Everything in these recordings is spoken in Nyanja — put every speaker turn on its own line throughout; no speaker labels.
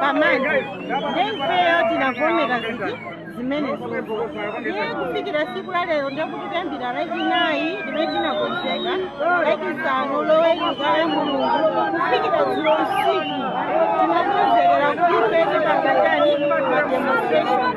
pamanje ndiye ifeyo tinavomera ziti zimenezi ndiye kufikira siku la lero ndekuti kuyambira lachinayi limene tinakonzeka lachisanu loweruka la mulungu kufikira dzulo usiku tinakonzekera kuti ife tikatani mademonstration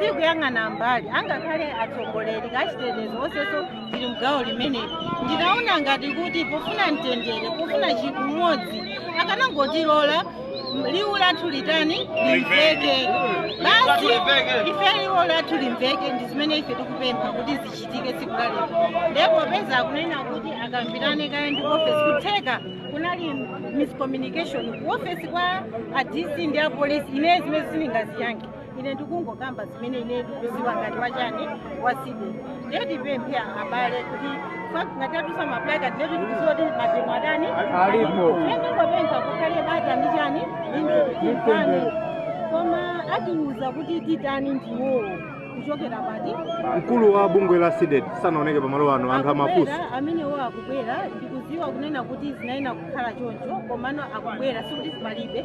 sikuyang'ana mbali angakhale atsogoleri achitetezo onsenso zili mgawo limeneli ndinaona ngati kuti pofuna mtendere pofuna chinthu chimodzi akanangotilola liwu lathu litani limveke basi ife liwu lathu limveke ndi zimene ife tikupempha kuti zichitike tsiku la lero ndi popeza akunena kuti akambirane kaye ndi ofesi kutheka kunali miscommunication ku ofesi kwa a dc ndi apolisi ine zimene sindingaziyankhe ine ndikungokamba zimene ine ndikuziwa ngati wa chani wa CDEDI ndiye tipemphe abale kuti ngati atitsitsa maplaka ndiye kuti tikuziwa kuti mademo atani Alipo. ndiye ndingopempha kukhale bata ndi chani ndi mtendere koma atiuza kuti titani ndi iwowo kuchokera poti mkulu wa
bungwe la CDEDI sanaoneke pamalo ano anthu amafunsa amenewo akubwera
ndikuziwa kunena kuti zinayenera kukhala choncho komano akubwera sikuti palibe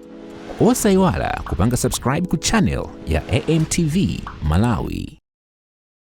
Osaiwala kupanga subscribe ku channel ya AMTV Malawi.